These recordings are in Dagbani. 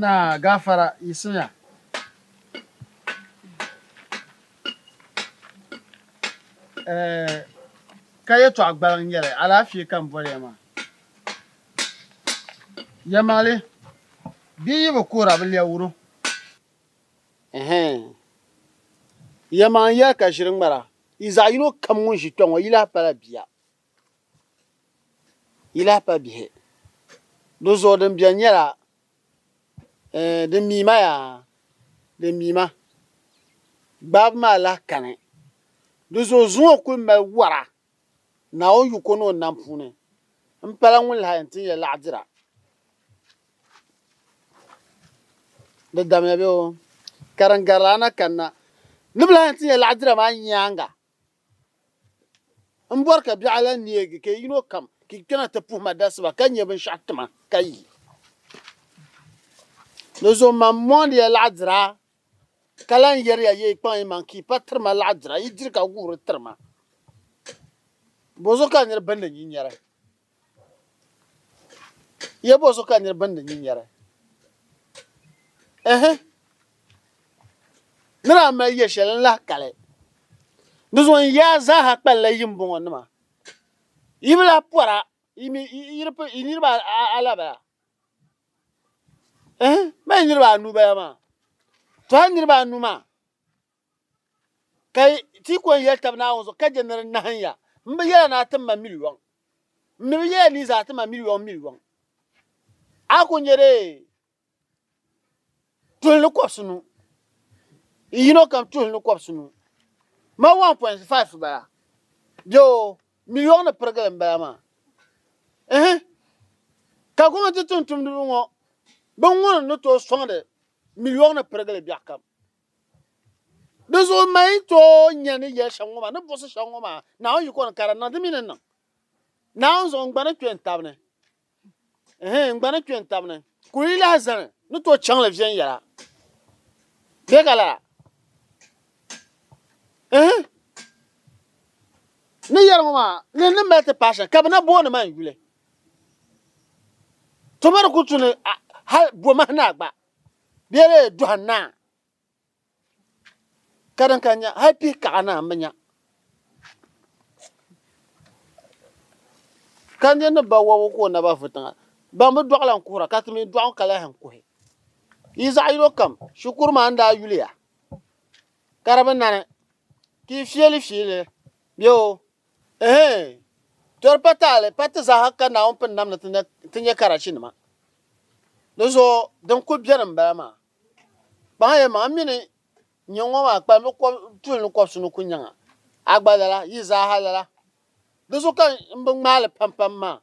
Naa, gafara yiɣisiya. Ɛɛh, ka yɛtɔɣ gbaliŋ n-nyɛli, alaafee ka m boli ya maa. Yɛlimaŋli, bia yi bi kuhira bi lɛb wuro. Ɛɛh, yɛlimaŋli yɛli ka ʒiri ŋmara, yi zaɣ yino kam ŋun ʒi kpɛŋɔ yi lahi pala bia. Yi lahi pa bihi. Di zuɣu din beni nyɛla eh, di mii ma yaa, di mii ma. Gbaabu maa lahi kani. Di zuɣu zuŋɔ kuli mali wara Naawuni yiko ni o nam puuni. M pala ŋun lahi yɛn tin ya laɣidira. Di damya bee o, ka din garila a na kanna. Ni bi lahi yɛn tin ya laɣidira maa nyaaŋa. M bɔri ka biɛɣu lan neegi ka yino kam ka yi kpɛna ti puhi ma dasiba ka nya binshɛɣu ti ma ka yi Di zuɣu mam mondi ya laɣidira ka lan yɛri ya ya yi kpaŋ yimaŋ ka yi pa tiri ma laɣidira yi diri ka guhiri tiri ma. Bɔzuɣu ka nir bindi nyin yɛri? Ya bɔso ka nir bindi nyi nyari? Ɛhɛ! Ni daa mali ya shɛli n-lahi kali. Di zuɣu n yaa zaaha kpalila yimbɔŋɔ nima. Yi bi lahi pɔra, yi mi yi niriba a la bala? Ɛhɛ! Mali niriba anu bala maa. Tɔha niriba anu maa. Ka ti ko n-yɛli tab Naawuni zuɣu ka je ni di nahim ya. M bi yɛla ni a tim ma miliyɔŋ. M mi bi yɛla ni yi zaa ti ma miliyɔŋ miliyɔŋ. A ku nye dee tuhi ni kɔbisi nu. N yino kam tuhi ni kɔbisi nu. Ma 1.5 bala. Bɛ o, miliyɔŋ ni pirigili m-bala maa. Ɛhɛ! Ka gɔmnati tumtumdiba ŋɔ biŋ ŋuni ni tooi sɔŋdi miliyɔŋ ni pirigili biɛɣukam. Di zuɣu n mali tooi nya ni yɛli shɛŋa ŋɔ maa ni buɣisi shɛŋa ŋɔ maa Naawuni yiko ni ka di niŋ di mi ni niŋ. Naawuni zuɣu n gba ni kpe n tab ni. Ɛhɛn n gba ni kpe n tab ni. Kul yi lahi zani ni tooi chaŋ li viɛnyɛla. Bɛ ka lala. Ɛhɛn ni yɛli ŋɔ maa ni ni mali ti paai shɛli ka bɛ na booni ma n yuli. Tuma di kuli tu ni hali bɔmahi ni a gba. Bɛ lee dɔhi naa ka din ka nya hali pihi kaɣa naa m-bi nya. Ka n-je ni ba wabu ka o naba vu tiŋa, ban bi dɔɣi la n-kuhira ka ti mi dɔɣi ka lahi n-kuhi. Yi zaɣ yino kam shikuru maa n-daa yuli ya ka di bi nani ka yi fiili fiili li bee oo. Ehe! Doli pa taali pa ti zaaha ka Naawuni pini nam ni ti nya karachi nima. Di zuɣu din kuli beni m bala maa. Kpaŋa yɛli ma a mini nyɛ ŋɔ maa kpalimbi tuuli ni kɔbisi ni ku nyaŋa. A gba lala, yi zaaha lala. Di zuɣu ka m bi ŋmaali pam pam maa.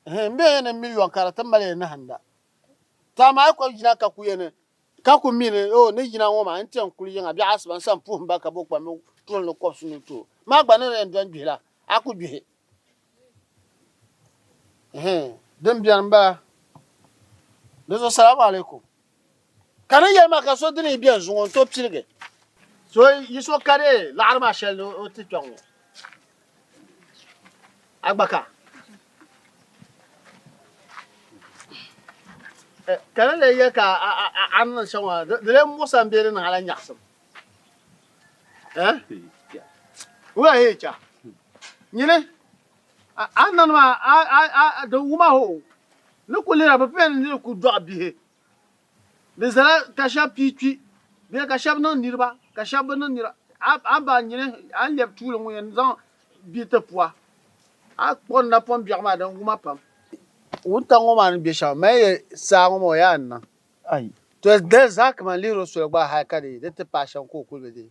N be ya ni miliyon ka di ti mali ya nahinda. To amaa yi kɔbi jina ka ku ya ni ka ku mi ni o ni jina ŋɔ maa n-ti yɛn kuli yiŋa biɛɣu asiba n-san puhim ba ka bo kpam mi tuhi ni kɔbisi ni to maa gba ni di yɛn dɔn gbihi la a ku gbihi. Din beni m-bala. Di zuɣu Salaamu Alaikum. Ka ni yɛli maa ka so dini yi bɛn zuŋɔ n to piligi. So yi so ka dee laɣiri maa shɛli ni o ti kpɛŋ ŋɔ. A gba ka. Eh, ka ni lee yɛli ka a a a ni niŋ shɛŋa di di lee muɣisa n bɛ di niŋ ala nyaɣisim. Eh? Wula hee cha. Nyini A a nani maa a a a a di wuma hoo ni ku lihira bi pɛni ni di ku dɔɣi bihi di zala ka shɛb pii kpi bee ka shɛb niŋ niriba ka shɛb bi niŋ niriba a a ba nyini a ni lɛbi tuuli ŋun yɛn zaŋ bia ti pua a kpuɣi n napɔŋ biɛɣu maa din wuma pam. Wuntaŋ ŋɔ maa ni be shɛm mali ya saa ŋɔ maa o yaa n-niŋ ayi toli dali zaa kaman lihiri o soli gba hal ka di yi di ti paai shɛm ka o kuli be dee.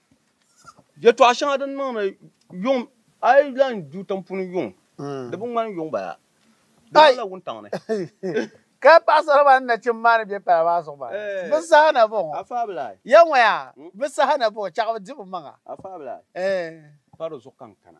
Yɛtɔɣ shɛŋa din niŋdi yuŋ a yi lan du tiŋpuni yuŋ di bi ŋmani yuŋ bala di Ai. ŋmanila wuntaŋ ni Ka paɣisara maa ni nachimba maa ni be pala maa zuɣu maa, Ɛɛ. bɛ saha na bɔŋɔ? a faabila ai Yɛŋɔya, bɛ saha na bɔŋɔ? Chɛɣu di bɛ maŋa. a faabila ai Ɛɛ. pa di zuɣu ka n kana.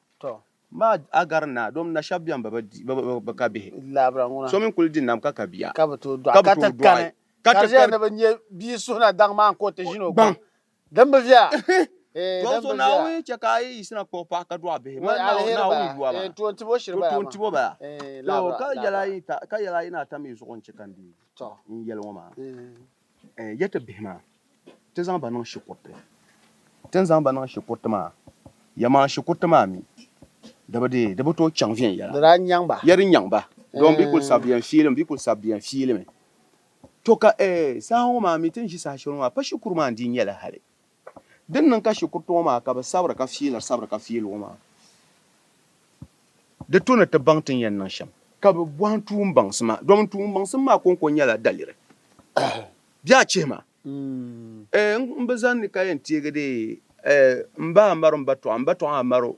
Tɔ! Maa Agari naa, domi na shɛb bɛn bi bi ka bihi, so mi n-kul di nam ka ka bia, ka bi tooi dɔɣi, ka ti kani, ka di ʒiya ni bɛ nya bia suhu na daŋ maa ka o ti ʒini o gbaŋ. Dimbiviya! Hee dimbiviya! Tɔ! Naawuni chɛ ka a yi yiɣisina kpuɣi paɣ ka dɔɣi bihi, mali Naawuni yuwa maa, ka di tooi ti bo shiri baya maa. Tɔ! Ka yɛl a yi ni a tam yi zuɣu n-chɛ ka n dii n yɛli ŋɔ maa. Ya ti bihi maa, ti zaŋ ba niŋ shikuriti. Ti ni zaŋ ba niŋ shikuriti maa, ya maa shikuriti maa mi di bi dii, di bi tooi chaŋ viɛnyɛla. Di daa nyaŋ ba. Ya di nyaŋ ba. Doo m-bi kul sabi viɛn fiili, m-bi kul sabi viɛn fiili mi. To ka, eeh, saha ŋɔ maa mi, ti ni ʒi saha shɛli ŋɔ maa, pa shikuru maa n-dii nyɛla hali. Din niŋ ka shikuru tuɣu maa ka bɛ sabiri ka fiiliri sabiri ka fiili o maa, di to ni ti baŋ ti ni yɛn niŋ shɛm. Ka bɛ bɔhim tuumbaŋsima, domin tuumbaŋsim maa kɔŋko nyɛla daliri. Bɛ a chihi ma, N, n bi zani ka yɛn teegi deei, M ba a mari o, m ba tɔɣa, m ba tɔɣa a mari o.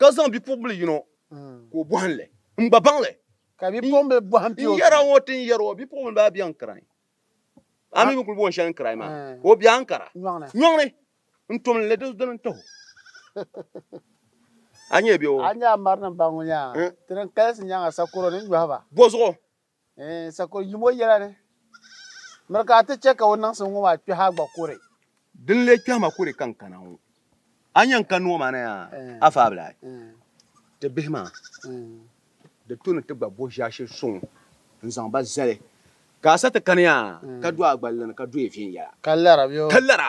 ka zaŋ bipuɣimbili yino ka o bɔhim li, m gba baŋ li. Ka bipuɣimbili bɔhim pia o biɛɣu. N yɛra ŋɔ ti ni yɛri o, bipuɣimbili baa biɛɣu n-kirayi. A mi bi kuli booni shɛli ni kirayi maa, ka o biɛɣu n-kara. Nyɔŋni n-tom li di dini n-tah o. A nyɛ biɛɣu. A nyɛ a mari ni baŋ ŋɔ nyaŋa, ti ni kalisi nyaŋa sakoro ni nyɔhi ba. Bɔzuɣu N sa ka o yim o yɛla ni, miri ka a ti chɛ ka o niŋsim ŋɔ maa kpɛhi a gba kuri. Di ni lee kpɛhi ma kuri ka n kana ŋɔ, a ni yɛn kani ŋɔ maa na yaa, a faabila ai. Ti bihi maa, di tu ni ti gba bo ʒiɛshili suŋ n-zaŋ ba zali, ka a sa ti kani yaa, ka do a gballi ni ka do ya viɛnyɛla, ka lara.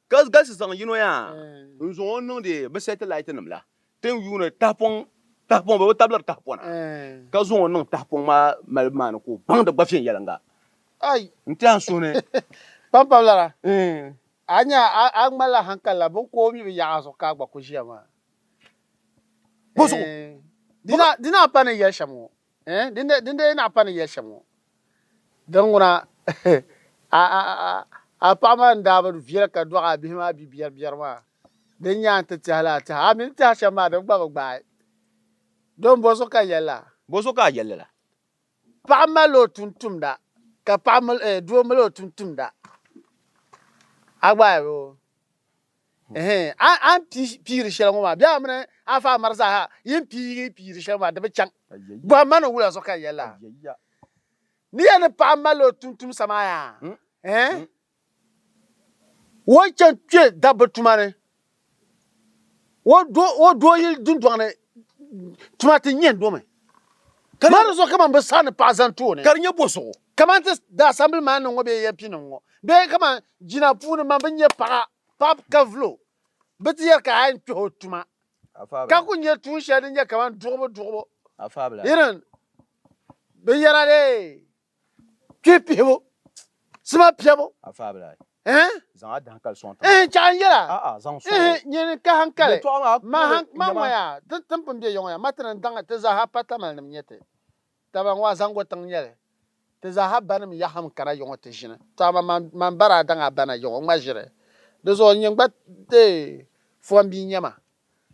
Ka galisi zaŋ yino yaa n zaŋ o niŋdi bi sɛti laati nim la tin yuuni tahapɔŋ tahapɔŋ bɛ bi tabili tahapɔna ka zaŋ o niŋ tahapɔŋ maa malibu maa ni ka o baŋdi gba viɛnyɛlinga n ti an suhuni pampam lala a nya a ŋmalila hankali la bin ka o mi bi yaɣi a zuɣu ka a gba ku ʒiya maa dina a pa ni yɛli shɛm ŋɔ Eh, dinde, dinde yi naɣi pa ni yɛli shɛm ŋɔ. Din ŋuna, a, a, a, a paɣa maa n daa bi viɛl ka dɔɣi a bihi maa bi biɛri biɛri maa, din nya n ti tɛhi li a tɛha, a mi ni tɛhi shɛm maa din gba bi gbaai. Don bɔ zuɣu ka n yɛli la? Bɔ zuɣu ka a yɛli li la? Paɣa mali o tumtumda, ka paɣa mil, eh, doo mil o tumtumda. A gbaai bɛ o? Ɛhɛn, a ni pii piiri shɛli ŋɔ maa, bɛ a mini a faa mari zaaha yi ni pii yi piiri shɛli ŋɔ maa, di bi chaŋ. Bɔhim ma ni wula zuɣu ka n yɛli a ni ya ni paɣa mali o tumtumsa maa yaa, ɛhɛn, o chani kpe dabba tuma ni, o do o do yili dundɔŋ ni tuma ti nyɛn domi. Ka maa di zuɣu kaman bɛ saha ni paɣa zani tooni ka di nyɛ bozuɣu. Kaman ti daa sambili maa ni ŋɔ bee yɛn pinim ŋɔ bee kaman jina puuni man bɛ nya paɣa paɣib ka vul o, bɛ ti yɛli ka a yɛn kpɛh o tuma ka ku nya tuun shɛli din nyɛ kaman duɣibu duɣibu irin binyɛra dee. kpe pihibu sima piɛbu n chaɣan yɛla nyini ka hankali ma mɔya ti tin pun bɛ yɔŋɔ ya ma ti ni daŋ ti zaaha pa tamali nim nyɛ ti taba n wa zaŋgo tiŋ nyɛli ti zaaha banim yahim kana yɔŋɔ ti ʒini to ama man bara daŋ a bana yɔŋɔ ŋma ʒiri di zuɣu nyini gba fɔn bia nyɛma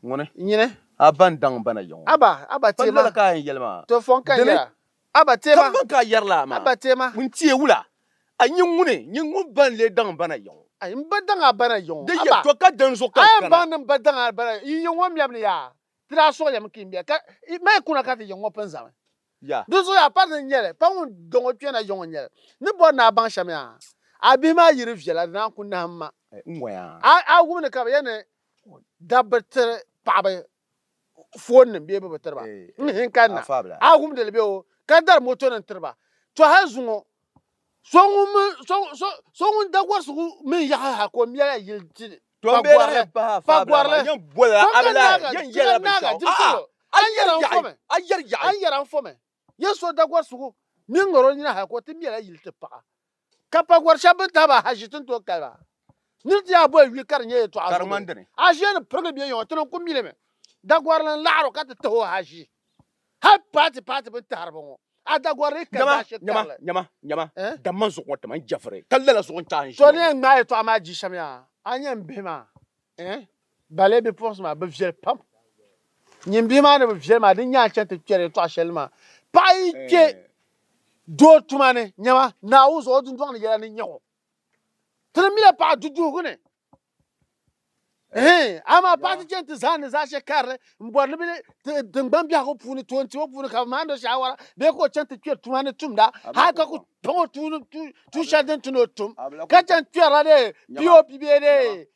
ŋuni nyini a ban daŋ bana yɔŋɔ aba aba ti ma to fɔn ka yɛla A ba teema. Kambaŋ ka a yɛrila a maa. A ba teema. Ŋun ti e wula? A nyin ŋuni? Nyin ŋun ba n-lee daŋ n ba na yiŋ? A yin ba daŋ a ba na yiŋ? Di yɛn to ka dinzuɣu ka n kana. A yɛn baŋdi n ba daŋ a ba na yiŋ. Yi yiŋ ŋɔ mɛbu ni yaa, ti daa suɣilimi ka yi mɛ, ka yi mali kuna ka ti yiŋ ŋɔ pun zami. Yaa! Dinzuɣu yaa pari ni n-nyɛli, pa ŋun dɔŋ o kpɛna yiŋ n-nyɛli. Ni bɔri ni a baŋ shɛm yaa? A bihi maa yiri viɛla, di naan ku nahim ma. N ŋɔ yaa! A wum ni ka bɛ yɛli ni dabba tiri paɣaba foon nim bee bi bi tiriba eh, n hin eh, kanna a wumdili bɛ o ka dari moto nim tiriba to hali zuŋɔ so ŋun da gɔrisigu mini yaɣa ha ka o mɛla yili ti pagɔrili pagɔrili yɛn bɔla abila yɛn yɛla binshaɣu a yɛri yaɣi a yɛri yaɣi a yɛri an fɔmi Yesu o dagɔrisigu mini ŋaro nina hal ka o ti mɛla yili ti paɣa, ka pa gɔr shɛb bɛn tahi ba ahaʒi ti ni tooi kali ba. Nir ti yaa boli wi ka di nyɛ yɛtɔɣa zuɣu ni a ʒiya ni pirigi bɛ yaŋɔ, ti niŋ kumilimi dagɔrili n-laɣir o ka ti tah o ahaʒi. Hal paati paati bɛn tahiri ba ŋɔ, a dagɔrili ka zaashee karili. Nyama, nyama, nyama, dam man zuɣu ŋɔ ti ma n jɛfiri, ka lala zuɣu n-chahi n ʒiya ŋɔ. Tɔ ni yɛn ŋmaai yɛtɔɣa maa di shɛm yaa, a ni yɛn bihi ma. Eh, bale bipuɣinsi maa bi viɛli pam. Nyin bihi maa ni bi viɛli maa di ni nyaai chɛni ti kpɛri ya tɔɣa shɛli maa. Paɣa yi kpe eh. doo tuma ni, nyama, Naawuni zuɣu o dundɔŋ ni yɛla ni nya o. Ti ni mila paɣa duduhigu ni. Eh, amaa paɣa ti chɛni ti zaani zaashɛ karili m-bɔri ni bɛ ti tingbani biɛhigu puuni toon tibo puuni ka bɛ maani o shaawara bee ka o chɛni ti kpɛri tuma ni tumda hali ka ku paŋ o tuun shɛli din ti ni o tum ka chɛni kpɛrila dee POP bee dee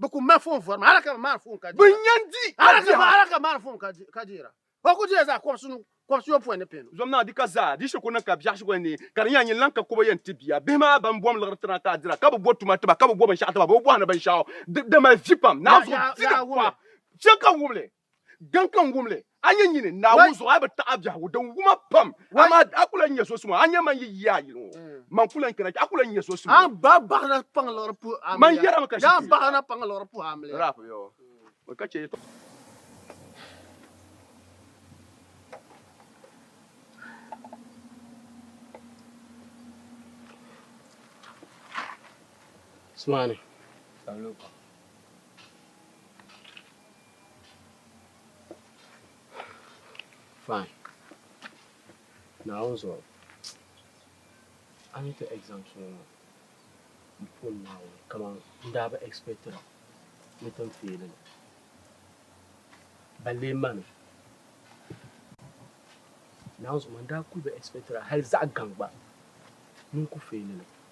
Bɛ ku ma foon vɔrima hal ka bɛ maani foon ka deera. Bɛ yɛn di a biɛhigu. Hal ka bɛ maani foon ka deera. O ku diya zaa kɔbisi nu kɔbisi yɔpɔin ni pihinu. Zom naa di ka zaa di shikuru ni ka biɛhigu shikuru ni ka di nyɛla nyin lan ka kɔbo yɛn ti bia. Bihi maa ban bom liɣiri tina ka a dira ka bɛ bo tuma tiba ka bɛ bo binshɛɣu tiba bɛ bi bɔhini binshɛɣu. Di mali vi pam. Naanzuɣu di di pɔhim shɛli ka wubili. Dini ka n wum li, a nyɛ nyini Naawuni zuɣu a bi taɣi a biɛhigu din wum a pam, amaa a ku lan nyɛ so suma, a nya man yi yia yili ŋɔ, man ku lan kana chɛ a ku lan nyɛ so suma. Man yɛrimi ka shikuru yɛla. Fine. Naawuni zuɣu a ni ti exams ŋɔ maa m puhim Naawuni kaman n daa bi expectira ni tin feeli li balle m ma ni Naawuni zuɣu maa n daa kuli bi expectira hali zaɣa gaŋ gba ni n ku feeli li.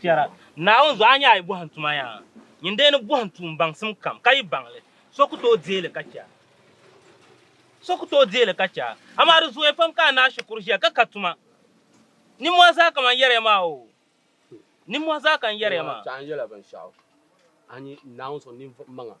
Chɛra, Naawuni zuɣu a nya a yi bɔhim tuma yaa, nyin dee ni bɔhim tuun baŋsim kam ka yi baŋ li, so ku tooi deei li ka chɛ a. So ku tooi deei li ka chɛ a. Amaa di zooya pam ka a ni a shikuru ʒiya ka ka tuma. Ninmɔhi zaa ka man yɛriya maa oo. Ninmɔhi zaa ka n yɛriya maa. Chɛ a ni yɛla binshɛɣu, a ni Naawuni suhu ninvuɣ maŋa.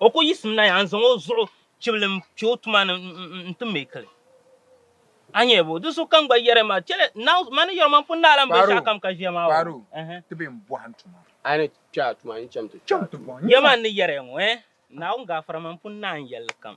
O ku yiɣisim na ya n-zaŋ o zuɣu chibili n-kpe o tuma ni nti make li. A nya bɔ? Di sokam gba yɛri ma, chɛli Nau, ma ni yɛri o man pun naai lan be shɛlikam ka ʒiya maa o. Kpaaro, ti be m-bɔhi n tuma. A ni kpe a tuma, n cham ti kpe a tuma. Yɛlima n ni yɛri ya ŋɔ, eh? Naawuni gaafara man pun naai n yɛlli kam.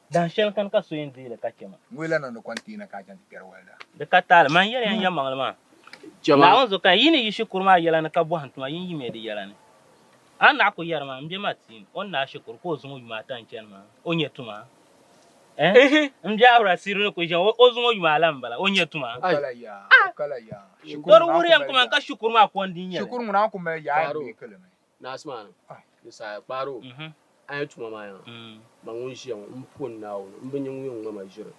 Dahin shɛli kani ka so yɛn deei li ka chɛ ma. Ŋun yi lahi niŋdi kɔnteei na ka a chaŋ ti kpɛri walida. Di ka taali. Mani yɛliya n-yɛnmaŋli maa. Naawuni zo ka yi ni yi shikuru maa yɛla ni ka bɔhim tuma yin yimiya di yɛla ni. A naɣ ku yɛri ma, m-bia Martin, o ni naai shikuru ka o zuŋ o yuma ata n-chani ma, o nya tuma? Ɛɛh? M-bia Aura Siri ni ku ʒiɛm, o zuŋ o yuma alan m-bala, o nya tuma? O kala yaa, o kala yaa. Dɔri wuhiri ya n-ku ma n ka shikuru maa kɔndi n-nyɛ li. Shikuru ŋuna ku mali yaa n-deei ki li mi. Naas maa ni ni saaya kpaari o a ni tuma maa yaŋa ma ŋun ʒiya ŋɔ m puhi Naawuni m bi nya ŋun yɛn ŋme ma ʒiri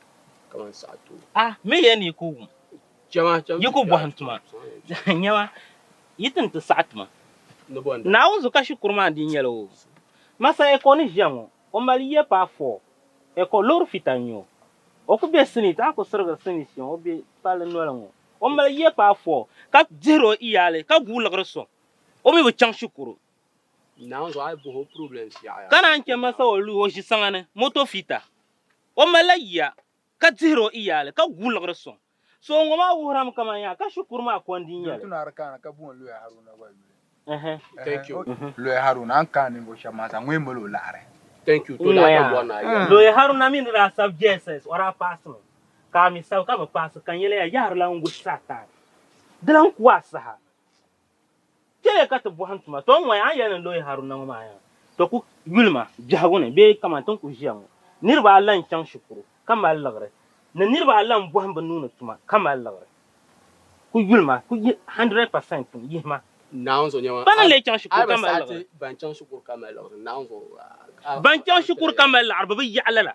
kaman saɣa tooi. A mi yɛn yi ku wum, yi ku bɔhim tuma, nyama, yi ti ni ti saɣi tuma. Naawuni zu ka shikuru maa dii nyɛla o. Masa Ecole ni ʒiya ŋɔ, o mali yiya paai four, Ecole loori fita n-nyɛ o. O ku be Senate, a ku sirigiri Senate shɛm, o be palli noli ŋɔ. O mali yiya paai four, ka dihiri o iyaali, ka guui liɣiri sɔŋ. O mi bi chaŋ shikuru. Naanzu a yi bohi o problems yaɣaya. Ka naan chɛ ma sa o luhi o ʒisaŋa ni moto fiita. O malila yiya ka dihiri o iyaali ka guui liɣiri sɔŋ. So ŋɔ maa wuhirami kaman yaa ka shikuru maa kondi n-nyɛ li. Looya Haruna a ni kaai ninvuɣ shɛb maa zaa, ŋɔ yi mali o laɣiri. Looya Haruna mi ni daa sabi JSS o daa paasimi, ka a mi sabi ka bi paasi ka n yɛliya yaɣirila n-wuhi Satan. Di lan ku a saha. Chɛliya ka ti bɔhim tuma. Tɔ ŋ-ŋɔya, a ni yɛli ni n lo yi Haruna ŋɔ maa yaŋa? Tɔ ku yuli ma biɛhigu ni bee kaman ti ni ku ʒiya ŋɔ. Niriba a la n-chaŋ shikuru, ka mali liɣiri, ni niriba a la m-bɔhim bɛ nuu ni tuma, ka mali liɣiri. Ku yuli ma, ku yi hundred percent tum, yihi ma. Naawuni zuɣu Pa ni leei chaŋ shikuru ka mali liɣiri. Ban chaŋ shikuru ka mali liɣiri, Naawuni zuɣu. Ban chaŋ shikuru ka mali liɣiri, bɛ bi yaɣi lala.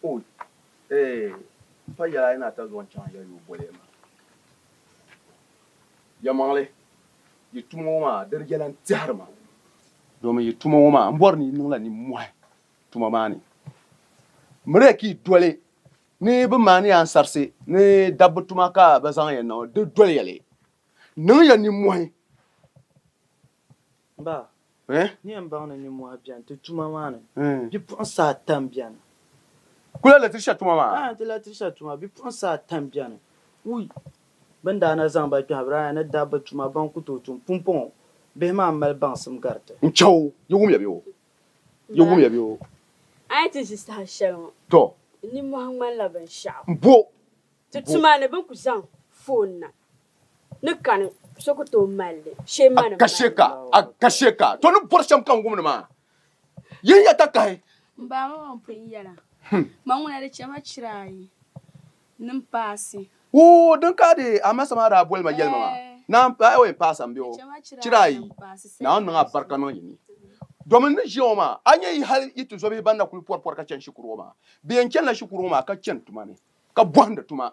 Quote, Ee, pa yɛla a yi ni a ta zuɣu n-chaŋ ya yoo boli ya maa. Yɛlimaŋli, yi tuma ŋɔ maa di di yɛla n-tɛhiri ma. Domin yi tuma ŋɔ maa m bɔri ni yi niŋla nimmɔhi tuma maa ni. Miri ka yi doli ni bɛ maani ya ansarisi ni dabba tuma ka bɛ zaŋ ya niŋ di doli ya li. Niŋ ya nimmɔhi. Ba, n ni yɛn baŋ ni nimmɔhi beni ti tuma maa ni. Bipuɣinsi ata m-beni. Kul a latirisa tuma maa? Aa, nti latirisa tuma. Bipuɣinsi ata m-beni. Wuy! Bɛ ni daa na zaŋ ba kpɛhibiri aya ni dabba tuma ban ku tooi tum pumpɔŋɔ bihi maa m-mali baŋsim gari ti. N chɛ o, yi wum ya bee o? Yi wum ya bee o? Ba, a ni ti ʒi saha shɛli ŋɔ, n nimmɔhi ŋmanila binshɛɣu. M-bo! Ti tuma ni bɛ ni ku zaŋ foon na. ni kani so ku tooi mali li shee ma ni Ka shee ka, a ka shee ka. To ni bɔri shɛm ka n wum ni maa. Yihi ya takahi. M ba ŋɔ ŋun pun yɛla, Ma ŋuna di chɛ ma chira ayi ni m paasi. Oo, din ka di a ma sa maa daa boli ma yɛlima maa, naa m pa, eoi, paasa m-be o, chira ayi, Naawuni niŋ a barika niŋ yi ni. Domi n ni ʒiya ŋɔ maa, a nya yi hal yi tizɔbihi ban na kul pɔri pɔri ka chani shikuru ŋɔ maa. Bɛ yɛn chanila shikuru ŋɔ maa ka chani tuma ni, ka bɔhindi tuma.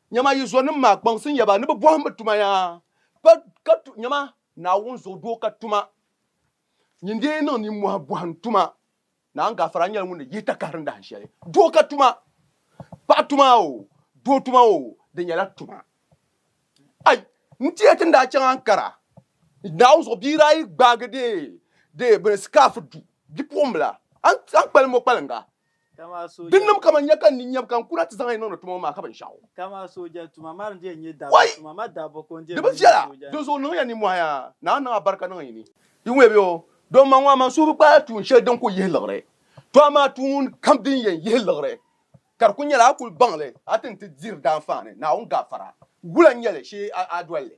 Nyama yi zɔnim maa kpaŋsi n-ya ba ni bɛ bɔhim bɛ tuma ya pa ka tu, nyama Naawuni zuɣu doo ka tuma nyin dee niŋ nimmɔhi bɔhi n-tuma. Naan Gafara nyɛla ŋun ni yihi takahiri dahin shɛli doo ka tuma, paɣa tuma o, doo tuma o, di nyɛla tuma. Ai! N tiya ti ni daa chaŋ Ankara Naawuni zuɣu bia daa yi gbaagi dee dee bini scarf du bipuɣimbila, a ni kpalim o kpalinga Din nim ka man nya ka n ni nyɛbu ka n kuna ti zaŋ yi niŋdi tuma ŋɔ maa ka binshɛɣu. Wai! Di bi viɛla, dinzuɣu niŋ ya nimmɔhi yaa Naa niŋ a barika niŋ yi ni. Yi ŋmɛ bɛ o, doo man ŋɔ amaa suhu bi kpaai tuun shɛli din ku yihi liɣiri. To amaa tuun kam din yɛn yihi liɣiri ka di ku nyɛla a kuli baŋ li a ti ni ti diri daanfaani Naawuni gafara. Wula n-nyɛ li shee a doli li?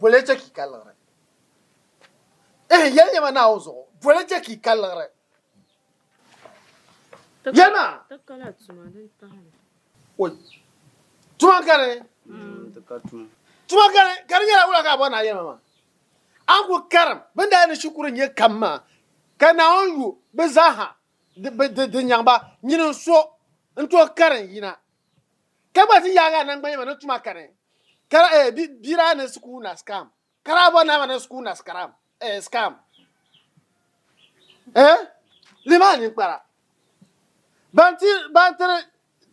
Bole chɛ ki ka liɣiri. Ehe, yɛli nyɛma naai o zuɣu. Bole chɛ ki ka liɣiri. Yɛli ma. Ti ka la tuma din tahi ni. Oi. Tuma ka ni. Mm, ti ka tuma. Tuma ka ni, ka di nyɛla wula ka a bɔri ni a yɛli ma maa? A ni kul karim bɛ ni daa ni shikuru nya kam maa, ka Naawuni yu bɛ zaa ha di, di, di nyaŋ ba, nyini n-so n-tooi karim yina. Ka gba ti yaagi a nangbanyama ni tuma kani ka daa eh, bi, bia daa niŋ sukuu na scam. Ka daa bɔri ni a ma niŋ sukuu na scram, eh, scam. Eh, li maa ninkpara. Ban ti, ban tiri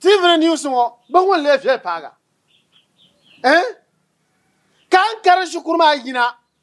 TV ni news ŋɔ, bɛ ŋun lee viɛli paaga. Eh, ka n kari shikuru maa yina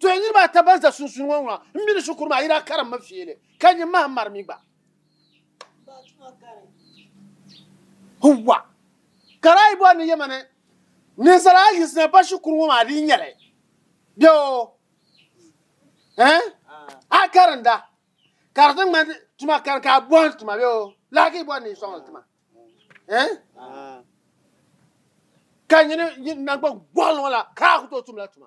To ya niriba ata ban za sunsuuni ŋɔ ŋuna, m mini shikuru maa yi daa karimmi fiili, ka nyin maha m mari mi gba. Huwwa! Ka daa yi bɔri ni Yemeni ninsal a yi zina ba shikuru ŋɔ maa dii n-nyɛ li. Bɛ o! Ɛɛn! A karinda, ka di ti ŋmani tuma kani ka a bɔhim tima bɛ o! Lahi ka yi bɔri ni yi sɔŋ li tima. Ɛɛn! Ka nyini nyin naŋgban gɔɣili ŋɔ la ka a ku tooi tum la tuma.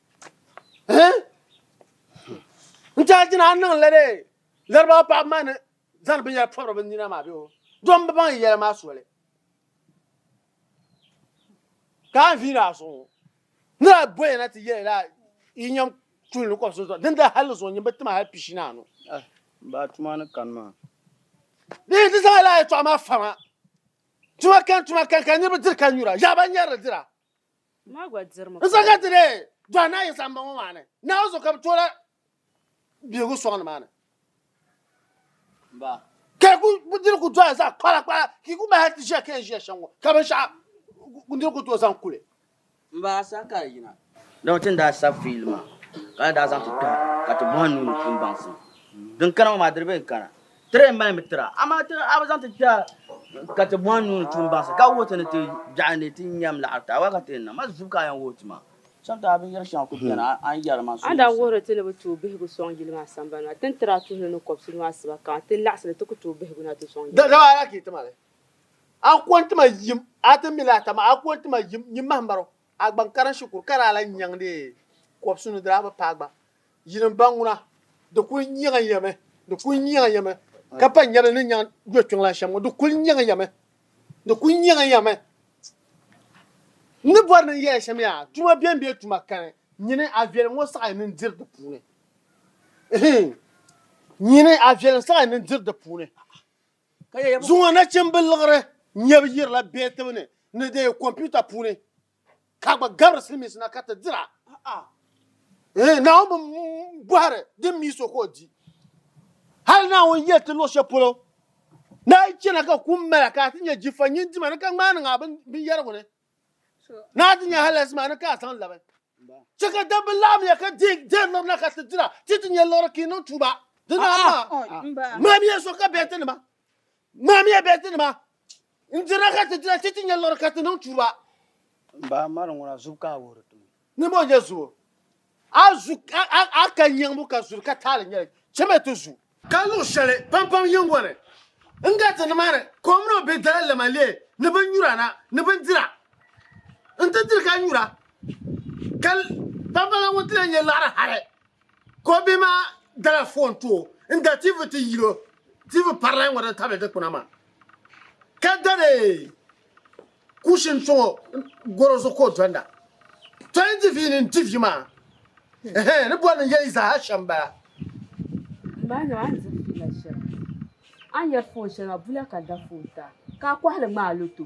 n tiɛhi jina a niŋ la dee laribaɣa paɣaba maa ni zaŋ binyɛra pɔbiri bi nina maa bee o dɔn bi baŋ yɛli maa soli ka a viiri a zuɣu ŋɔ ni a bɔya na ti yɛli la yi nyɛm tuuli ni kɔbisi zuɣu din da hali zuɣu nyini bi ti ma hali pishi ni anu eh, ba tuma ni kani maa dee ti zaŋ la a yɛtɔɣa maa fama tuma kan tuma kan ka niriba diri ka nyura yaɣaba nyɛri dira N sa ka ti dee dɔhi naa Yisa m-bɔŋɔ maa ni naa o zuɣu ka bɛ tooi la bihigu sɔŋ ni maa ni. Ka yi ku diri ku dɔhi zaɣ kpala kpala ka yi ku mali hali ti ʒiya ka yɛn ʒiya shɛm ŋɔ ka binshɛɣu n diri ku tooi zaŋ kuli. Dama ti ni daa sab fiili maa ka ni daa zaŋ ti tɔhi ka ti bɔhi n nuu ni kpimbaŋsim din kana ŋɔ maa di di bee n-kana? Tiri n mali mi tira, amaa ti a bi zaŋ ti kpɛha ka ti bɔhi n nuu ni tuun baŋsi, ka wuhi ti ni ti biɛɣu ni ti nyam laɣiri ti a wala ka ti yɛn niŋ ma zubu ka a yɛn wuhi ti ma. Cham ti a binyɛri shɛŋa ku beni a a ni yɛri ma so A daa wuhiri ti ni bi tooi bihigu sɔŋ yili maa sambani maa, ti ni tiri a tuhili ni kɔbisi nuu asiba kaŋa, ti ni laɣisili ti ku tooi bihigu na ti sɔŋ yili maa. Dama a daa kii ti ma li, a ni kɔŋ ti ma yim, a ti mi li ata maa, a kɔŋ ti ma yim, nyin mahim barigu, a gba n kara n shikuru, ka daa lan nyaŋ deei kɔbisi nudira a bi paai gba. Yili n ba ŋuna, di kul nyaŋ ya mi, di kul nyaŋ ya mi, ka pa nyɛvili ni nyaŋ yo kpiŋ la shɛm ŋɔ, di kul nyaŋ ya mi, di kul nyaŋ ya mi. N ni bɔri ni n yɛya shɛm yaa, tuma bɛn bɛ tuma kani, nyini a viɛlim ŋɔ saɣi ni n diri di puuni. Ihiin! Nyini a viɛlim saɣi ni n diri di puuni. Zuŋɔ nachimbil liɣiri nyɛbu yirila bɛɛtibu ni ni di kompiuta puuni. ka gba gabiri silimiinsi na ka ti dira. Eeh, Naawuni bi bɔhiri din mi so ka o di. Hali Naawuni yɛli ti luɣ shɛli polo, Naa yi chana ka kum mala ka a ti nya jifa nyin dima ni ka ŋmaai niŋ a binyɛrigu ni, ni a ti nya halaasi maa ni ka a zaŋ labi. Chɛ ka dabba laɣimya ka deei dɛrili na ka ti dira, ti ti nya liɣiri ka yi niŋ tuuba. Dinaama, ŋmaamiya so ka bɛtinima, ŋmaamiya bɛtinima, N dirila ka ti dira ti ti nya liɣiri ka ti niŋ tuba. M ba mari ŋuna zubu ka a wuhiri ti mi. Ni mo nya zubu. A zu a ka nyiŋbu ka zuri ka taali nyɛli. Chɛmiya ti zu. Ka luɣ shɛli pampam yiŋgɔ ni n gariti nimaani kɔmino bee dala lɛma leei ni binnyura na ni bindira. N ti diri ka nyura ka pampam la ŋun ti lee nya liɣiri hali Ko bia maa dala foon ti o n-da TV ti yil o TV paralahi ŋɔ din tabili dikpuna maa ka dari kuushin sɔŋ o gɔro zuɣu ka o donda. Tɔi n-di vi ni n-di vi maa ɛhɛn ni bɔri ni yɛli zaaha shɛm bala. Mbaanima a ni di fiila shɛm a ni yɛri foon shɛŋa bula ka da foon ta ka a kɔhili ŋmaai loto.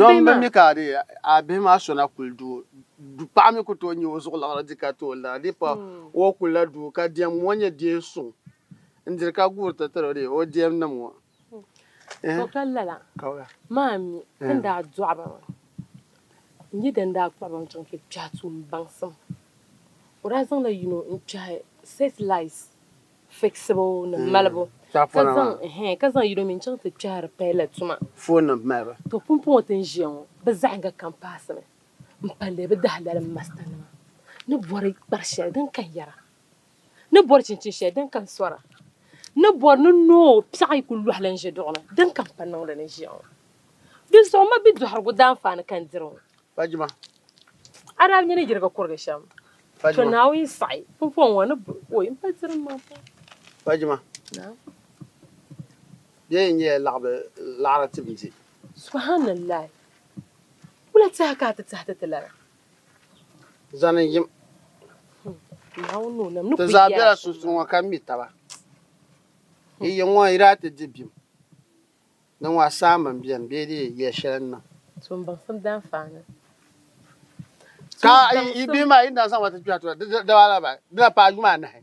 Dɔn bɛ mi ka di a bihi maa sona kuli du du paɣa mi ku tooi nyi o zuɣu liɣiri di ka tooi lara di pa o kuli la du ka diɛm ŋɔ nyɛ deen suŋ n diri ka guuri ti tiri di o diɛm nim ŋɔ. To ka lala maa mi ti daa dɔɣi ba maa n yi din daa kpuɣi ba mi chaŋ ti kpɛhi tuun baŋsim o daa zaŋla yino n kpɛhi setilait fiɣisibu ni malibu ka zaŋ ɛhɛn ka zaŋ yino mi n-chaŋ ti kpɛhiri paya la tuma. Foonima malibu. To pumpɔŋɔ ti ni ʒiya ŋɔ bɛ zaɣiŋga kam paasimi m-palli bɛ dahilalim masitanima ni bɔri kpar shɛli din kan yɛra ni bɔri chinchini shɛli din kan sɔra ni bɔri ni noo piɛɣu yi kul lɔhi lan ʒe duɣu ni din kan pa niŋdi ni ʒiya ŋɔ. Dinzuɣu m ma bidɔhirigu daanfaani ka n diri ŋɔ. Pa jima. A daa bi nya ni yirigi kurigi shɛm. Pa jima. To Naawuni saɣi pumpɔŋ ŋɔ ni bɛ o yi m-pa tirim maa pam. Pa jima. Naam. Bɛ yi nyɛla laɣibu laɣiri ti bindi. Subhanallaahi! Wula tɛha ka a ti tɛhi ti ti lana? Zani n-yim. Naawuni ni o nam ni kul yɛla shɛm maa. Ti zaa bela sunsuuni ŋɔ ka mi taba. Yi yiŋ ŋɔ yi daa ti di bim. Di ŋɔ a saammi m-beni bee di yi yɛli shɛli n-niŋ. So m-baŋsim daanfaani. Ka yi bihi maa yi ni daa zaŋ ba ti kpɛhi tura, di daa laba di na paai juma anahi.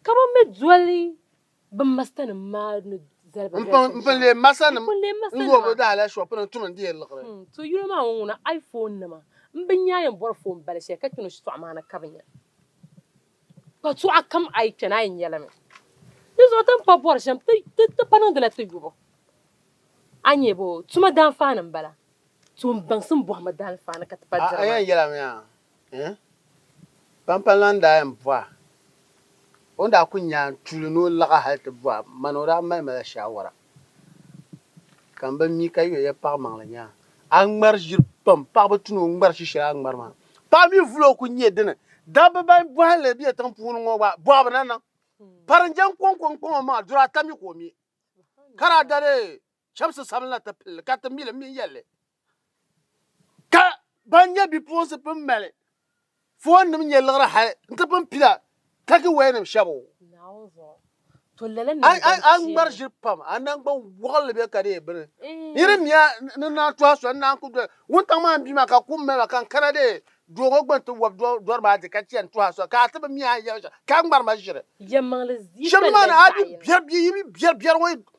Ka bɛ mi doli bɛ masitanim maa ni zali ba doli shɛm shɛm. N-pun leei masitanim n-wuhi bɛ daa hali shop ni tum n-deei liɣiri. To yino maa ŋɔ ŋuna iPhone nima m-bi nya a yɛn bɔri phone bali shɛli ka kpe ni o shitɔɣu maa ni ka bi nya. Yɛltɔɣa kam a yi kpɛna a yi nyɛla mi. Di zuɣu ti ni pa bɔri shɛm ti ti pa niŋdila ti yubu. A nyɛ bɔ tuma daanfaani m-bala. Tuun baŋsim bɔhima daanfaani ka ti pa diri maa. A yɛn yɛla mi a ni pampalana daa yɛn bɔh a. O ni daa kuli nya tuuli ni o laɣi hali ti bɔh a man o daa mali ma la shaawara. Ka n ba mi ka yoya paɣ maŋli nya a ŋmari ʒiri pam paɣ bi tuni o ŋmari shi shɛli a ŋmari maa paɣ mi vuli o ku nyɛ dini dabba ban bɔhi li bɛ tiŋ puuni ŋɔ gba bɔhi bi na niŋ pari n jɛn kɔŋ kɔŋ kɔŋɔ maa duri ata mi ka o mi ka daa dali chɛmsi sabinli ti pili ka ti mi li mi yɛlli ka ban nyɛ bipuɣinsi pun mali foonnim nyɛ liɣiri hali nti pun pila takiwɛyanim shɛbu. A ŋmari ʒiri pam, a naŋgban wɔɣinli be ka di yɛn bini. N yiri miya ni naa tɔha soli n-daa n-kul doli wuntaŋ maa m-bia maa ka kum mali ma ka n kana deei doo ŋɔ gba nti wɔbi dɔri maa di ka chani tɔha soli ka a ti bi mi a ni yɛli ma shɛm ka a ŋmari ma ʒiri. Shɛm ni maa ni a bi biɛri bia yi bi biɛri biɛri ŋɔ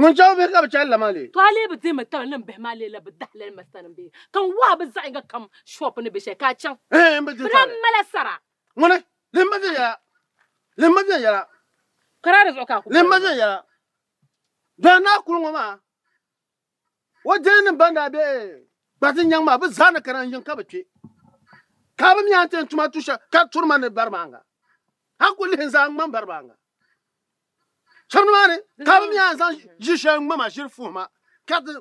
Ŋun chɛ o bihi ka bi chɛ alilama lee. To a lee bi deemi taba niŋ bihi maa lee la bi dahi lalima sani bee? Ka n wɔhi a bi zaɣ'yiŋga kam shɔɔpu ni be shɛli ka a chaŋ. Ehe, n bi di taali. Bɛ daa mali a sara. Ŋuni, lihim ma viɛnyɛla, lihim ma viɛnyɛla. Kara di zuɣu ka a ku boli ma. Lihim ma viɛnyɛla. Dɔya naa kuli ŋɔ maa. O deenim ban daa be Gbatin nyaŋ maa, bɛ zaa ni kana n-yiŋ ka bɛ kpe, ka bɛ mi a ni ti yɛn tuma tu shɛli ka turi ma ni baribaaŋa. A kul lihi n zaa ŋ-ŋmani baribaaŋa shɛb nimaani, ka bɛ mi a ni zaŋ ʒiri shɛli ŋ-ŋma ma ʒiri fuhi ma, ka ti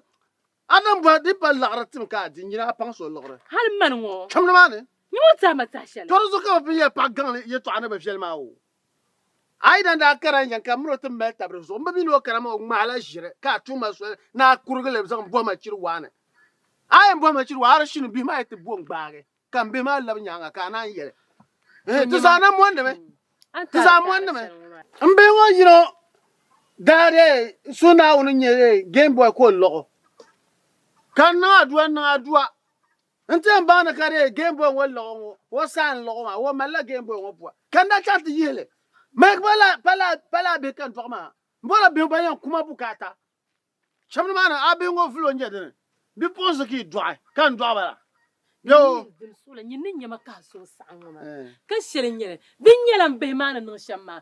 a lan bɔhi di pa laɣiri tim ka a di, nyini a paŋsi o liɣiri. Hal mani ŋɔ! Shɛm nimaani. Nyini o tɛhi ma tɛha shɛli. Tɔ di zuɣu ka bɛ pun yɛli paɣ gaŋli yɛtɔɣa ni bɛ viɛli ma o. A yidana daa kara n-yɛn ka miri o ti mali tabiri zuɣu. M bi mi ni o kana maa o ŋmahila ʒiri ka a tuhi ma soli ni a kurigi li zaŋ bɔhi ma chiri waa ni. A yɛn bɔhi ma chiri waa hali shini bihi maa yi ti bo n-gbaagi ka m bihi maa labi nyaaŋa ka a naan yɛli, Ehe, ti zaa na mondi mi. Ti zaa mondi mi. M bihi ŋɔ yino daa dii suhi Naawuni n-nyɛ Game Boy ka o lɔɣ o ka niŋ adua niŋ adua. N ti yɛn baŋ ni ka di nyɛ Game Boy ŋɔ liɣi ŋɔ ka o saai n liɣi maa o malila Game Boy ŋɔ buwa ka n daa chaŋ ti yihi li Mike pa laa pa laa pa laa bihi ka n dɔɣi maa n bɔla bihi ban yɛn ku ma bukaata shɛm ni maa ni a bihi ŋɔ vuli o n nyɛ dini bipuɣinsi ka yi dɔɣi ka n dɔɣi ba la N bɛ o yi gili suɣili nyini ni nyɛma ka a suhu saɣim ŋɔ maa Eh. ka shɛli n nyɛli din nyɛla m bihi maa ni niŋ shɛm maa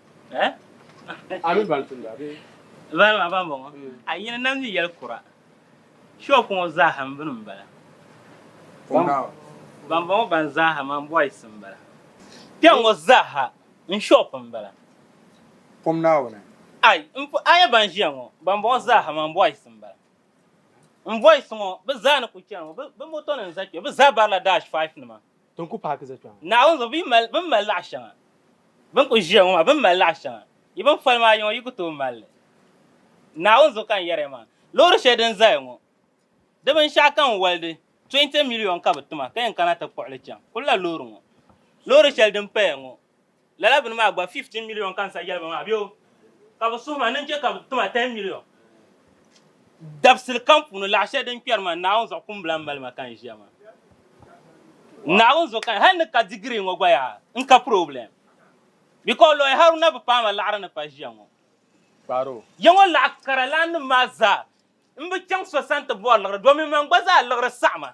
Eh? Ami ban tumda bee? Vani maa ban bɔŋɔ. A yi ni nam yi yɛli kura, shop ŋɔ zaaha m bini m-bala. Ban bɔŋɔ ban zaaha man boys m-bala. Kpɛŋ ŋɔ zaaha n shop m-bala. Pom Naawuni. Ai, m po a nya ban ʒiya ŋɔ, ban bɔŋɔ zaaha man boys m-bala. M boys ŋɔ, bɛ zaa ni ku chani ŋɔ, bɛ motonim za kpe, bɛ zaa barila dash five nima. Din ku paaki za kpɛŋ. Naawuni zuɣu bɛ ni mali laɣ shɛŋa bɛn kuli ʒiya ŋɔ maa, bɛ ni mali laɣ shɛŋa yi bɛn foli maa yiŋɔ yi ku tooi mali li. Naawuni zuɣu ka n yɛri ya maa, loori shɛli din zaya ŋɔ di binshɛɣu ka n wali di, 20 miliyon ka bɛ ti ma ka yɛn kana ti kpuɣi li chaŋ. Kulila loori ŋɔ. Loori shɛli din paya ŋɔ. Lala bini maa gba 15 million ka n sa yɛli ba maa bɛ o ka bɛ suhi ma ni n chɛ ka bɛ ti ma 10 million dabisili kam puuni laɣ shɛli din kpɛri ma Naawuni zuɣu kumbila m-mali ma ka n ʒiya maa Naawuni zuɣu ka hal ni ka digiri ŋɔ gba yaa n ka problem because Lawyer Haruna bi paai ma laɣiri ni pa ʒiya ŋɔ ya ŋɔ laɣ kara laninim maa zaa m bi chaŋ so sani ti bɔri liɣiri domin man gba zaa liɣiri saɣi ma.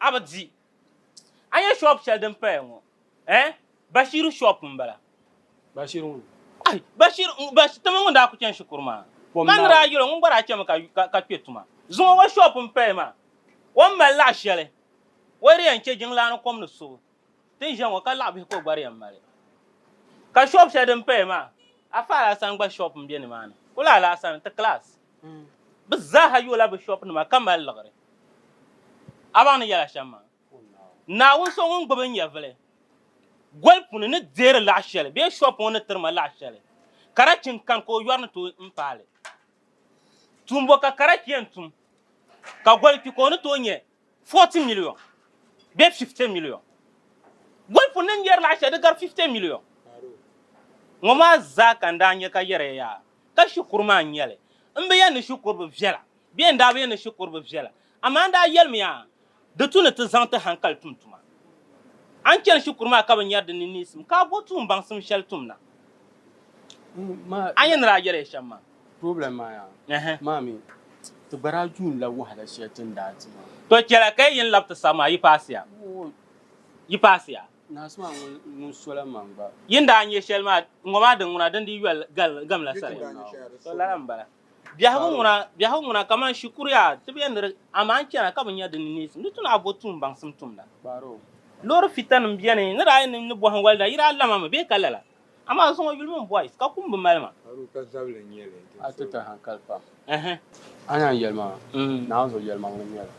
A bi di. A nya shop shɛli din paya ŋɔ? Eh? Bashiru shop m-bala. Bashir ŋun? Ayi, Bashir, Bashir, ti mini ŋun daa ku chani shikuru maa. Kom Ka n ni daa yɛl o, ŋun gba daa chami ka, ka, ka kpe tuma. Zuŋɔ o shop m-paya maa. O ni mali laɣ shɛli, o yi di yɛn chɛ jiŋlaa ni kom ni subu, Ti ni ʒiya ŋɔ ka laɣ bihi ka o gbari yɛn mali. Ka shop shɛli din paya maa a fahi Alaasani gba shop n bɛ ni maa ni. Kuli Alaasani ti class bi zaaha yoola bi shop nima ka mali liɣiri. A baŋ ni yɛla shɛm maa. Naawuni so ŋun gbubi n nyɛvili goli puuni ni deeri laɣ shɛli bee shop ŋɔ ni tiri ma laɣ shɛli karachi n kani ka o yɔri ni tooi n paali. Tuumbo ka karachi yɛn tum ka goli kpi ka o ni tooi nyɛ 40 million bee 50 million. Golifu ni n-yɛri laɣ shɛli di gari 50 million. Ŋɔ maa zaa ka n daa nya ka yɛriya yaa ka shikuru maa n-nyɛ li. M bi yɛn ni shikuru bi viɛla bee n daa bi yɛn ni shikuru bi viɛla amaa n daa yɛlimi yaa di tu ni ti zaŋ ti hankali tum tuma. A ni chani shikuru maa ka bi nyari di ni neesim ka a bo tuumbaŋsim shɛli tum na. A ni daa yɛliya shɛm maa. Problem maa yaa Ɛhɛn. maa mi ti gba daa yuun la wahala shɛli ti ni daa di maa. To chɛla ka yi yini labi ti sani maa yi paasiya? Woo, Yi paasiya? naasi maa ŋun ŋun sola man gba. Yi ni daa nyɛ shɛli maa ŋɔ maa din ŋuna din di yoli gal gamla sali. To lala n bala. Biɛhigu ŋuna biɛhigu ŋuna kaman shikuru yaa ti bɛ niri amaa n chana ka bi nya di ni neesim di tuna bo tuun baŋsim tumda. Kpaaro. Loori fitanim beni ni daa yi ni ni bohim walida yi daa lama mi bee ka lala? Amaa zuŋɔ yuli mini boys ka kum bi mali ma. Aru ka zabili nyɛli. A ti ti hankali pam. Ɛhɛ. A ni yɛn yɛli ma naanzuɣu yɛlimaŋli nyɛli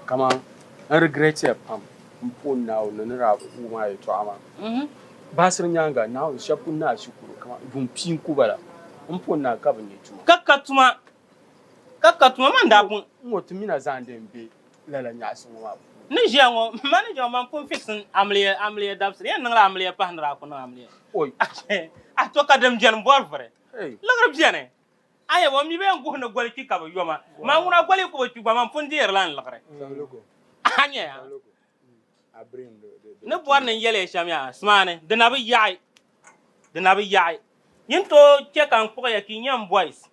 kaman n regret ya pam m puhi Naawuni ni daa wum a yɛtɔɣa maa. Baɣisiri nyaaŋa Naawuni shɛba ku ni a shikuru kaman vumpii n-ku ba la. M puhi naa ka bɛ nya tuma. Ka ka tuma. Ka ka tuma maa ni daa buŋ. N ŋɔ ti mi na zaandi n be lala nyaɣisi ŋɔ maa puuni. Ni ʒiya ŋɔ, manager ŋɔ man pun fiɣisi n amiliya amiliya dabisili. Yɛn niŋla amiliya pahi ni daa ku niŋ amiliya. Oi! A to ka din beni bɔri vuri. Liɣiri beni. A yɛba o mi bee n guhi ni goli kpi ka bi yoma. Maa ŋuna goli yi ku bi kpi gba man pun deerila n liɣiri. A nya ya? ni bɔri ni n-yɛl ya shɛm ya asimaani, di na bi yaɣi, di na bi yaɣi. Nyin tooi chɛ ka n kpuɣi ya ka yi nyɛ m boys.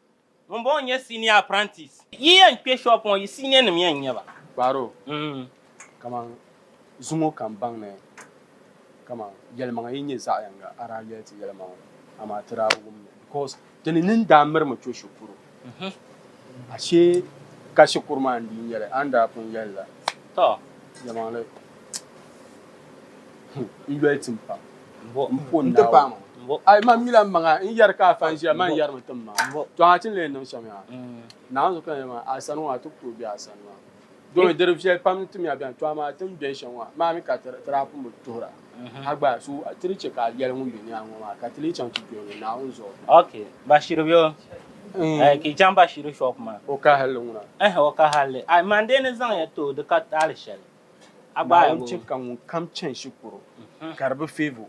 Ŋumbɔŋɔ n-nyɛ senior apprentice. Yi yɛn kpe shop ŋɔ, yi senior nim yɛn n-nyɛ ba. Kpaaro, kaman zuŋɔ ka m baŋ ni kaman yɛlimaŋa yi nyɛ zaɣ yiŋga a daa yɛli ti yɛlimaŋli, amaa ti daa bi wum li because Ti ni ni n-daa mirimi cho shikuru, ashe ka shikuru maa n-dii nyɛ li, a ni daa pun yɛli la. Tɔ! Nyɛmaŋli, n yoli ti m pam. Mbo. M po Naawuni. N ti paai ma. Mbo. Ai man mila m-maŋa n yɛri ka a fan ʒiya man yɛrimi ti m ma. Mbo. Tɔ! A ti ni lee niŋ shɛm yaa. Naawuni zuɣu ka n yɛli maa, a sani ŋɔ a ti ku tooi be a sani maa. Doo mi diri viɛli pam n-tim ya bɛn tɔha maa tim bɛn shɛm ŋɔ maa mi ka ti daa pun bi tuhira ha gba so ti ni chɛ ka a yɛli ŋun be ni a ŋɔ maa ka ti lee chaŋ ti doli ŋun Naawuni zuɣu. Ok, Bashiru be o? Ɛɛh ka yi chaŋ Bashiru shop maa. O kahili li ŋuna. Ɛɛh o kahili li. Ai man dee ni zaŋ ya ti o di ka taali shɛli. A gbaai bo. Naawuni chɛ ka ŋun kam chani shikuru ka di bi favour o.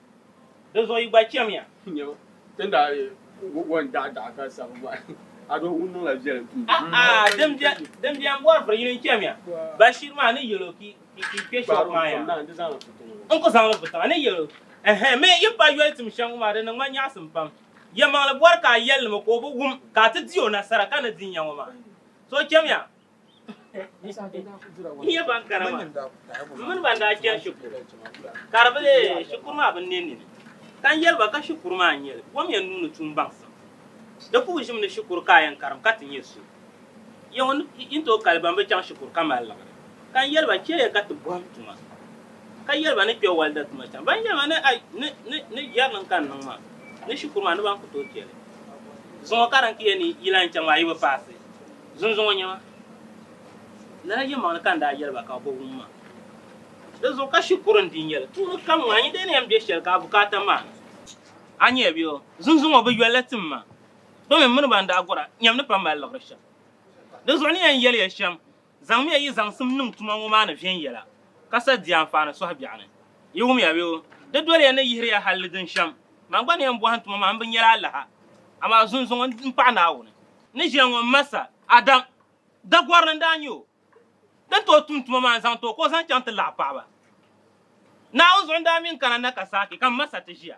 Di zuɣu yi gba chɛmiya. Nyabo, ti ni daa wo n-daɣi daɣi ka sabi bɔhi a doo ŋun niŋla viɛlim tum di ni. A'a, din biɛni bɔri vuri yini n-chɛmiya. Bashir maa ni yɛl o ka yi kpe shoop maa yaa. N ku zaŋ li vu tiŋa ni yɛl o. Ɛhɛn, mi yi pa yoli tim shɛm ŋɔ maa di niŋ ma nyaɣisim pam. Yɛlimaŋli bɔri ka a yɛli ni mi ka o bi wum ka a ti di o nasara ka ni di n-nya ŋɔ maa. So chɛmiya. N nyɛ ban kara maa, m mini ban daa chani shikuru ka di bi leei shikuru maa binneen nini, ka n yɛli ba ka shikuru maa n-nyɛ li, bom ya n nuu ni tuun baŋsim. Di puhi ʒim ni shikuru ka a yɛn karim ka ti nyɛ so. Yiŋa yi ni tooi kali ban bi chaŋ shikuru ka mali liɣiri, ka n yɛli ba chɛ ya ka ti bɔhim tuma, ka yɛli ba ni kpe walida tuma chaŋ. Ban yɛli ma ni a ni jɛri niŋ ka n niŋ maa ni shikuru maa ni ban ku tooi chɛ li, zuŋɔ ka di ni ti ya ni yi lahi chaŋ maa yi bi paasi. Zunzuŋɔ nyama, lala yɛlimaŋli ka n daa yɛli ba ka bɛ bi wum ma. Di zuɣu ka shikuru n-dii nyɛ li, tuuli kam ŋɔ a ni daa ni yɛn be shɛli ka a bukaata maani. A nya bɛ o, zunzuŋɔ bi yoli la tim ma, domin m mini ba n-daa gɔra nyam ni pa mali liɣiri shɛm. Di zuɣu n ni yɛn yɛli ya shɛm, zaŋmiya yi zaŋsim niŋ tuma ŋɔ maa ni viɛnyɛla, ka sa di anfaani sɔhi biɛɣu ni. Yi wumya bɛ o, di doli ya ni yihiri ya hal di din shɛm. Man gba ni yɛn bɔhim ti ma maa, m bi nya li alaha, amaa zunzuŋɔ m-paɣi Naawuni. ni ʒiya ŋɔ m-ma sa, Adam, Dagɔrili n-daa nyɛ o. Di ni tooi tum tuma maa n-zaŋ ti o ka o zaŋ chaŋ ti laɣ paɣiba. Naawuni zuɣu n-daa mi n kana na ka saaki, ka m ma sa ti ʒiya.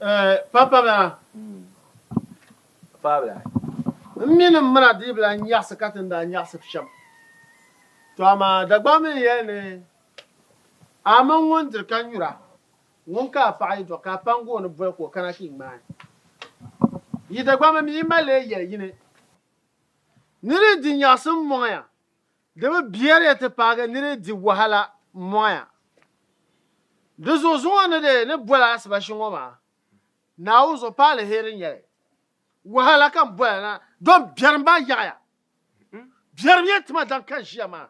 Eh, Papabila. Papabila. M mini m mina diibila n-nyaɣisi ka ti ni daa nyaɣisi shɛm. To amaa Dagbaŋ mi n-yɛli ni a mini ŋun diri ka nyura ŋun ka a paɣa yi dɔɣi ka a paŋgi o ni boli ka o kana ka yi ŋmaai yi Dagbaŋ mi mi yi mali lee yɛli yini ni di di nyaɣisim mɔŋ ya Di bi biɛri ya ti paagi ni di di wahala m-mɔya. Di zuɣu zuŋɔ ni di ni boli asibashi ŋɔ maa, Naawuni zuɣu pa aliheri n-nyɛ li. Wahala ka m boli na, dɔn biɛrim baa yaɣiya. Biɛrimya tima daŋ ka n ʒiya maa.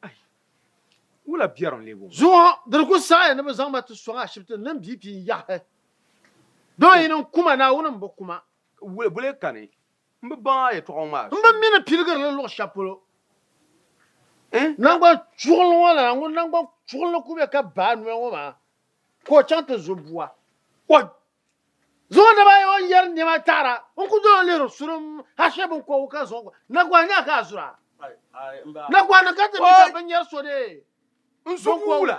Ai! Wula biɛrim leei bɔŋɔ? Zuŋɔ di ni ku saɣiya ni bɛ zaŋ ma ti sɔŋ ashibiti ni m bia pii n-yaɣi. Dɔn yi ni n ku ma, Naawuni m-bi ku ma. Wula boli ka ni M bi baŋ a yɛtɔɣa ŋɔ maa suuni. M bi mi ni piligiri li luɣ shɛb polo. Naŋgban chuɣili ŋɔ lana, ŋun naŋgban chuɣili ni ku be ka baai noya ŋɔ maa, ka o chaŋ ti zo bua. O zaŋ o naba ayi o ni yɛri nɛma taɣira n-ku dol o lihiri sulim hashee biŋkɔbigu ka zaŋ o gba. Naguɣa nya ka a zuri a? Naguɣa niŋ ka ti mi ka binyɛr so deei biŋkɔbigu wula?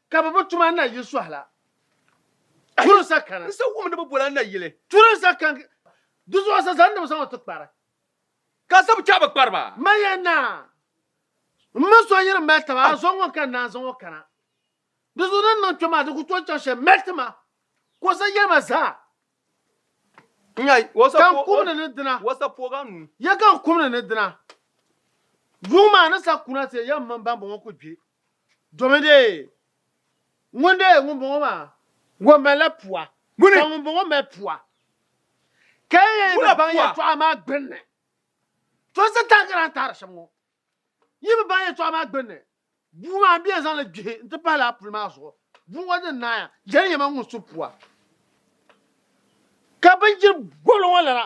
Ka bɛ bi tum a nayili sɔhi la. Turi sa kani. N sa wumdiba boli a nayili. Turi sa kani. Di zuɣu sa zaŋ n nimsaŋɔ ti kpari. Ka a sabi chɛ a bi kpari ba. Ma yɛn naa, m mini so yiri mali taba, a zo ŋun ka n naan zaŋ o kana. Di zuɣu din niŋ kpe maa, di ku tooi chaŋ shɛm mali ti ma, ka o sa yɛlima zaa. Ka n kumdi ni dina. Yɛ ka n kumdi ni dina. Yuŋ maa ni sa kuna ti ya m mini bambɔŋɔ ku gbi. Domi dee, ŋun dee ŋun bɔŋɔ maa, o malila pua, ka ŋun bɔŋɔ mali pua, ka yi yi bi baŋ yɛltɔɣa maa gbinni, to Satan ka daa taari shɛm ŋɔ, yi bi baŋ yɛltɔɣa maa gbinni, bua maa m bi yɛn zaŋ li gbihi nti pahi lala puli maa zuɣu, bua ŋɔ din naaya, jɛli yɛma ŋun su pua, ka bindiri gɔlo ŋɔ lana.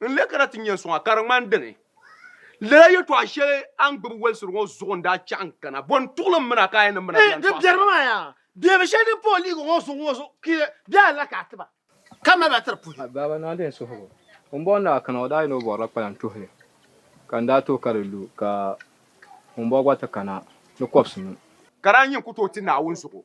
N leei ka na ti nyɛ suŋa, ka di ŋmani dini? Lala yɛtɔɣa shɛli a ni gbibi walisiri ŋɔ zuɣu n-daa chaɣi n-kana. Bɔ n-tuɣili m mina ka a yɛn ni m mina biɛn tɔɣisi? Di biɛrimi maa yaa! Beebi shɛli din pa o liiga ŋɔ zuɣu ŋɔ zuɣu kpiɣi bɛ alila ka a ti ba, ka mali ba tiri puhi. A baaba naa din suhigu ŋun bɔŋɔ ni daa kana o daa yɛn ni o bɔrila kpalaŋ tuhi li, ka n daa tooi ka di lu ka ŋun bɔŋɔ gba ti kana ni kɔbisi nuu. Ka daa nyin ku tooi ti Naawuni zuɣu.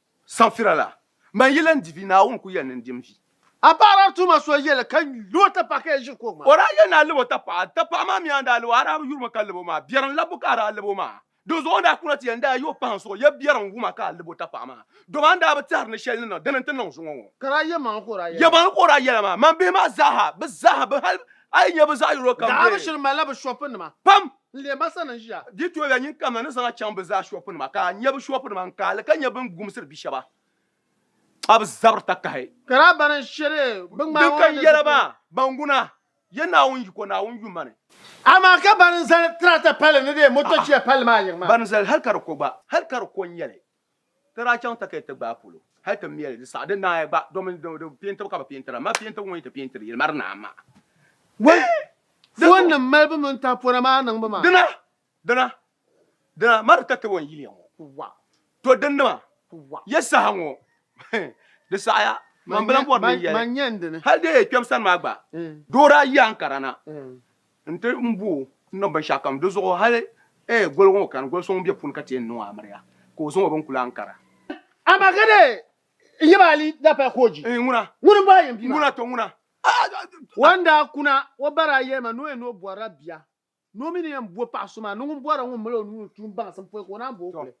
Safira la, man yi lan di vi, Naawuni ku yɛli ni n di m vi. A paɣiraa tuuma so yɛli ka lib o tapaɣa ka yi ʒiri kuɣ maa. O daa yɛli ni a lib o tapaɣa. Tapaɣa maa mi a ni daa lib o, a daa bi yuri mi ka lib o maa. Biɛrim labbu ka a daa lib o maa. Dinzuɣu n daa kuna ti yɛli n daa yi o pahi n suɣ ya biɛrim wuma ka a lib o tapaɣa maa. Dama a ni daa bi tɛhiri ni shɛli ni niŋ, dini n-ti niŋ zuŋɔ ŋɔ. Ka daa yɛmaŋli ka o daa yɛli maa. Yɛmaŋli ka o daa yɛli maa. Man bihi maa zaaha, bɛ zaaha, bɛ hal a yi nya bɛ zaɣ yino kam bee. Daa bi shiri malila bɛ shɔpinima. Pam! N leei ma sani n-ʒiya. Di tooi-ya nyin kam na ni zaŋ a chaŋ bɛ zaa shɔpunima, ka a nya bɛ shɔpunima n-kaai li ka nya bɛ ni gumsiri bi shɛba a bi zabiri takahi. Ka daa bani n-shiri bɛ ŋmahi ŋɔ ni zipil. Din kan yɛli ba, Banguna, yɛ Naawuni yiko, Naawuni yuma ni. Amaa ka bani zali tirata palli ni dee motochiya palli maa yiŋ maa. Bani zali hal ka di ko gba, hal ka di ko n-nyɛ li. Ti daa chaŋ takayuya ti gbaai polo hali ti meli di saha di naai gba domin di peentibu ka bi peentira amaa peentibu ŋɔ yi ti peentiri yili mari naa maa bee di zuɣu. Foonnim malibu mini tahipona maa niŋbu maa. Dina dina dina mari takayuya n yiliya ŋɔ wa to din nima wa ya saha ŋɔ hii di saɣiya manbila bɔri ni n yɛli man nyɛn dini hali di yi kpɛm sani maa gba doo daa yi Ankara na. Nti n bo o n niŋ binshɛɣukam di zuɣu hali ee goligu ŋɔ kani goli so ŋun be puuni ka ti yɛn niŋ o amiriya ka o zaŋ o binkuli Ankara. Amagede n yaba Ali Dapai Kooji ŋuna m-bo a yɛn bia maa. Ŋuna tɔ ŋuna. Wan daa kuna o bari a yɛlima ni o yɛn ni o bɔrila bia ni o mi ni yɛn bo paɣa so maa ni ŋun bɔra ŋun mali o nuu ni tuun baŋsim pɔi ka o naan bo o kuli.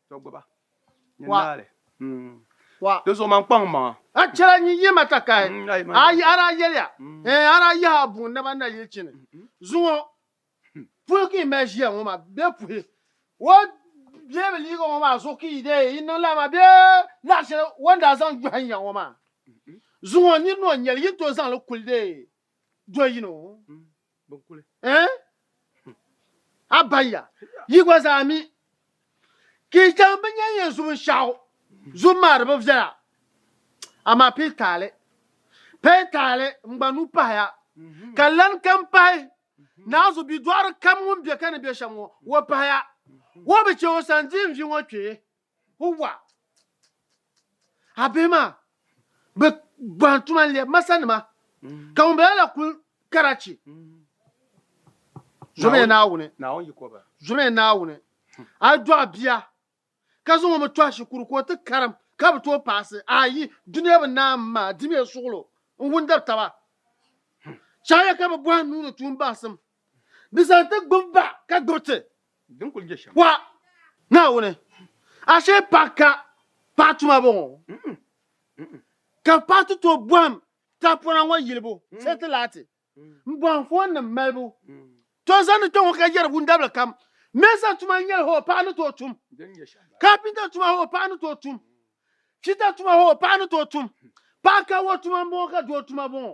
wa di zuɣu man kpaŋ maŋa a chɛla nyin yi ma takahi a yi ara yɛliya ɛɛ ara yaha a buŋ naba na yili chini zuŋɔ puhi ka yi mali ʒiya ŋɔ ma bee puhi wo bee bi liiga ŋɔ maa zuɣu ka yi dee yi niŋ lala maa bee laɣa shɛli wo ni daa zaŋ gbɛhi n ya ŋɔ maa zuŋɔ nyin ni o nyɛli yi ni tooi zaŋli kuli dee do yino eh a banya yi gba zaa mi ka yi chaŋ bi nyɛ yɛn zum shɛɣu zum maa di bi viɛla amaa pili taali pili taali n gba nu pahaya ka lan kam pahi naazu bidɔɣiri kam ŋun bɛ ka ni bɛ shɛm ŋɔ o pahaya o bi chɛ o sani di n vi ŋɔ kpee Huwa! A bihi maa bi gbahin tuma n-lebi ma sanima, ka ŋumbala la kul karachi zɔmiya Naawuni. Zɔmiya Naawuni. A yi dɔɣi bia ka zaŋ o mi tɔhi shikuru ka o ti karim ka bi tooi paasi, ayi, dunia bi naa m maa dimiya suɣulo n-wundiri taba. Chahiya ka bi bɔhi nuu ni tuun bahisim. Di zaŋ ti gbib ba ka gbib ti. Din kul je shɛm. Wa, Naawuni, ashe paɣ ka paɣ tuma bɔŋɔ? Ka paɣ ti tooi bɔhim tahipɔna ŋɔ yilibu shɛli ti lahi ti n bɔhim foonnim malibu. Tɔ zani kpɛŋɔ ka yɛri wundabili kam, Mɛɛsa tuma n-nyɛli hoo paɣ ni tooi tum, kaapinta tuma hoo paɣ ni tooi tum, fita tuma hoo paɣ ni tooi tum, paɣ ka wa tuma m-bɔŋɔ ka doo tuma bɔŋɔ.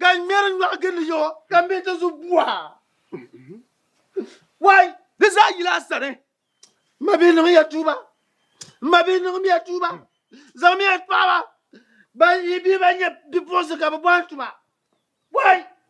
Ka n ŋmɛri nyɔɣu gindi yo, ka m be di zuɣu bua. Wai! Di zaa yila a sani. M ma bihi niŋmiya tuuba. M ma bihi niŋmiya tuuba. Zaŋmiya n-kpahi ba. Ban yi bihi ban nyɛ bipuɣinsi ka bɛ bɔhi n-tu ba. Wai!